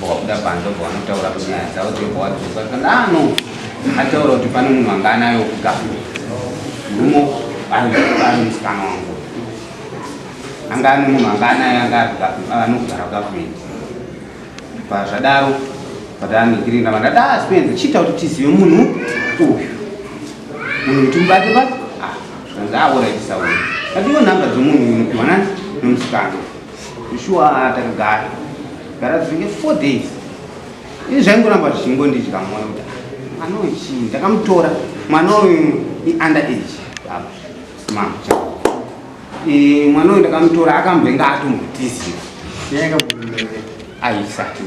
Wabuda panze obva wanotaura kuti nyaya dzavo dzobva wadzoka kana ano ataura kuti pane munhu anga anayo kuga rumo ari musikana wangu anga ane munhu anga anayo anga anogara government pazvadaro patanigirina vandada aspenza chiita kuti tizive munhu uyu munhu kuti mubate bate ah, zvanzi aoraitisa uyu adiwo nhamba dzomunhu uyu unopiwa nani nomusikana Shuwa takagara gara dzinenge four days ini zvaingoramba zvichingondidya mwoyo kuti mwana uyu chii ndakamutora mwana uyu iunder age baba mama e, mwana uyu ndakamutora akamboinga atombotiziva aisati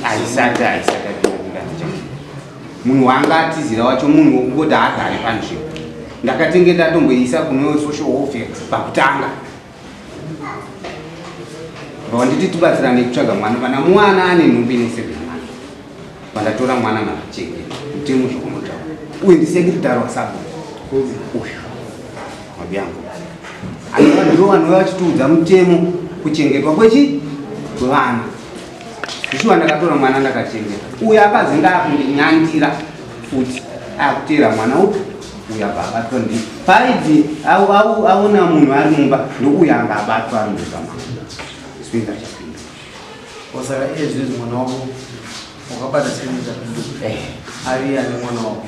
aisati aisati munhu waanga atizira wacho munhu wokungoti haagare panzvimbo ndakatenge ndatomboisa kune social welfare pakutanga vawanditi tibatsirane kutsvaga mwana kana mwana ane nhumbi inosevera mwana vandatora mwana machenge mutemo zvokunotaura uye ndisekritari wasabu uyu mabyangu anova ndivo vanova vachitiudza mutemo kuchengetwa kwechi kwevana zvishuwa ndakatora mwana ndakachengeta uyo akazi ndaakundinyandira futi akuteera mwana upi uya baabatwa ndi paidzi aona munhu ari mumba ndouya anga abatwa ari mumba mwana sipinda chapinda osaka ezvezi mwana wako wakabata sipinda chapinda eh. ari ani mwana wako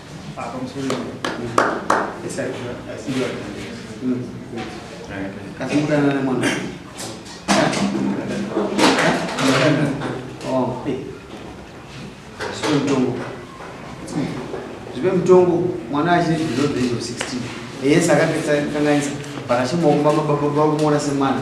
zvipe mutongo mwana achine below the age of 16 yes akapedza kangaisa but achimaombamababa vakumaona semwana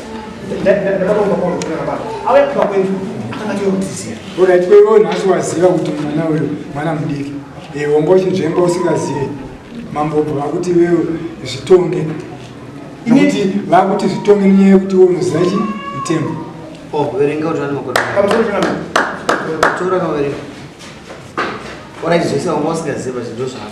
orit kweivo nhasi waziva kuti mwana uyu mwana mudiki honga uchinzvemba usingazive mambobva vakuti iwewe zvitonge nokuti vakuti zvitonge nenyaya yekuti iwe unoziva chi mtembo oh, verenga kuti vane makore tora kaverenga orit zvese vanga usingaziva zvindo zvavo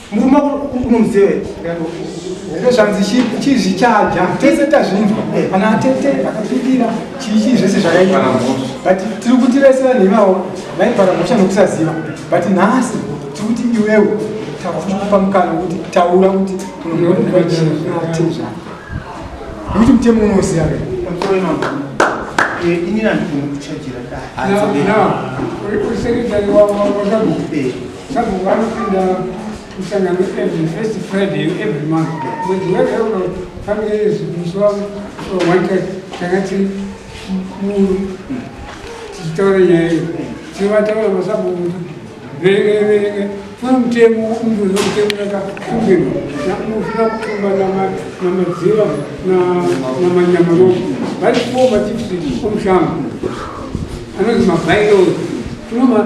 murume unomuziva here zvanzi chizvichaja tese tazvinzwa kana eh, atete akapindira chiichii zvese zvakaita but tiri kuti vese vanhu ivavo vaipara mhosva nokusaziva but nhasi tiri kuti iwewo takupa mukana kuti taura kuti unoatezva nekuti mutemo unoziva here ini nandikunokuchajira dai Sabhuku vanopinda musangano every first Friday every month. Mwedzi wega uno family yesu musuwa wanta tanga tiri muru tichitaura nyaya iyo tivataura masabhuku verenge verenge funa mutemo umbuzo mutemo yakakumbirwa nakunofuna kutumba namadziva namanyamaromo vari kuomba chipsi omushamba anonzi mabairo tunoma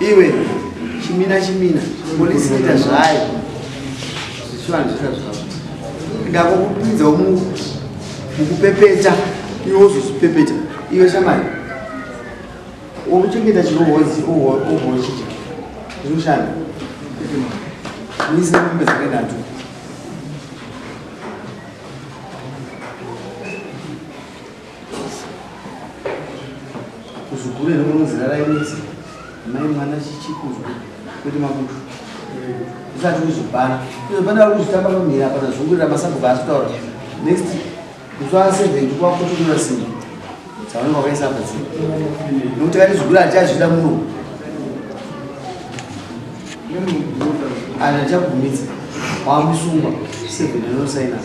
Iwe chimina chimina polisi ita zvayo zvichivanhu zvita zvavo ndakokupinza mukupepeta iwe wozozvipepeta iwe shamari wokuchengeta chinohozi ohochiti zvinoshanda muise mombe dzakaitatu kuzukuru rinonozirarai midzi mai mwana chichikuzwa kuti makutu zvisati kuzobhara pane vari kuzvitamba pamira pana zungurira masabhuku asi kutaura next kutsvaa seventi kwakutotora simba dzavanenge vakaisa apa dzii nokuti kati zukuru hatichazvida muno anachagumidza wamusungwa seventi rinosainaa